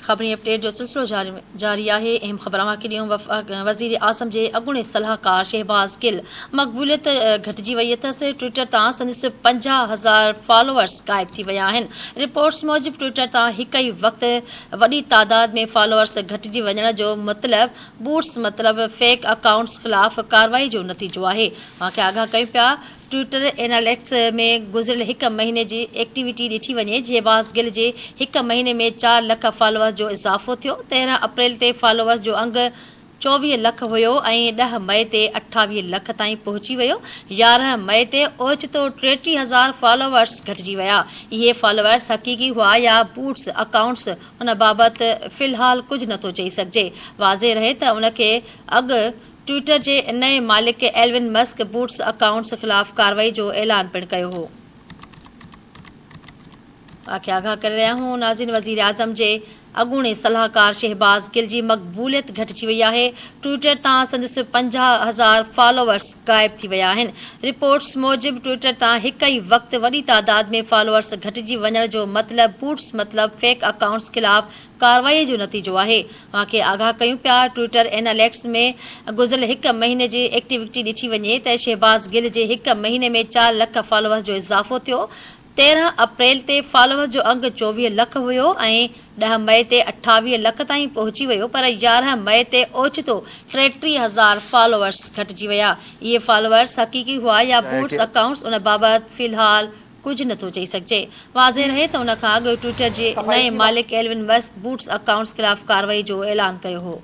خبرين update جو سلسلو جاري آهي اهم خبر اوهان کي ڏيون وفاق وزير اعظم جي اڳوڻي صلاحڪار شهباز گل مقبوليت گهٽجي وئي اٿس ٽوئيٽر تان سندس پنجاهه هزار فالوئرز غائب ٿي ويا آهن رپورٽس موجب ٽوئيٽر تان هڪ ئي وقت وڏي تعداد ۾ فالوئرز گهٽجي وڃڻ جو مطلب بوٽس مطلب فيڪ اڪائونٽس خلاف ڪارروائي جو نتيجو آهي اوهان کي آگاهه ڪيون پيا ٽوئيٽر ايناليٽڪس ۾ گذريل هڪ مهيني جي ايڪٽيوٽي ڏٺي وڃي جي واس گل جي هڪ مهيني ۾ چار لک فالوورز جو اضافو ٿيو، تيرهن اپريل تي فالوورز جو انگ چوويهه لک هيو ۽ ڏهه مئي تي اٺاويهه لک تائين پهچي ويو، يارهن مئي تي اوچتو ٽيٽيهه هزار فالوورز گهٽجي ويا، اهي فالوورز حقيقي هئا يا بوٽس اڪائونٽس ان بابت في الحال ڪجهه نٿو چئي سگهجي، واضح رهي ته ان کي اڳ ٽوئيٽر جي نئين مالڪ ايلون مسڪ بوٽس اڪائونٽس خلاف ڪارروائي جو اعلان پڻ ڪيو هو. نازين وزيراعظم جي اڳوڻي صلاحڪار شهباز گل جي مقبوليت گهٽجي وئي آهي، ٽوئيٽر تان سندس پنجاهه هزار فالوورز غائب ٿي ويا آهن، رپورٽس موجب ٽوئيٽر تان هڪ ئي وقت وڏي تعداد ۾ فالوورز گهٽجي وڃڻ جو مطلب بوٽس مطلب فيڪ اڪائونٽس خلاف ڪارروائي جو نتيجو آهي، اوهان کي آگاهه ڪيون پيا ٽوئيٽر ايناليڪس ۾ گذريل هڪ مهيني جي ايڪٽيوٽي ڏٺي وڃي ته شهباز گل جي هڪ مهيني ۾ چار لک فالوورز جو اضافو ٿيو تيرهن اپريل تي فالوورز جو انگ چوويهه لک هيو ۽ ڏهه مئي تي اٺاويهه لک تائين پهچي ويو پر يارهن مئي تي اوچتو ٽيٽيهه هزار فالوورز گهٽجي ويا اهي فالوورز حقيقي هئا يا بوٽس اڪائونٽس ان بابت في الحال ڪجهه نٿو چئي سگهجي. واضح رهي ته ان کان اڳ ٽوئيٽر جي نئين مالڪ ايلون مسڪ بوٽس اڪائونٽس خلاف ڪارروائي جو اعلان ڪيو هو.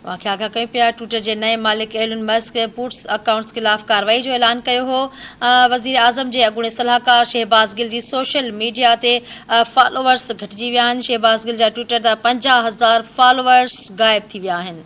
واقعا کان ڪيون پيا، ٽوئٽر جي نئين مالڪ ايلن مسڪ پوٽس اڪائونٽس خلاف ڪارروائي جو اعلان ڪيو هو، وزيراعظم جي اڳوڻي صلاحڪار شهباز گل جي سوشل ميڊيا تي فالوورز گهٽجي ويا آهن، شهباز گل جا ٽوئٽر تان پنجاهه هزار فالوورز غائب ٿي ويا آهن.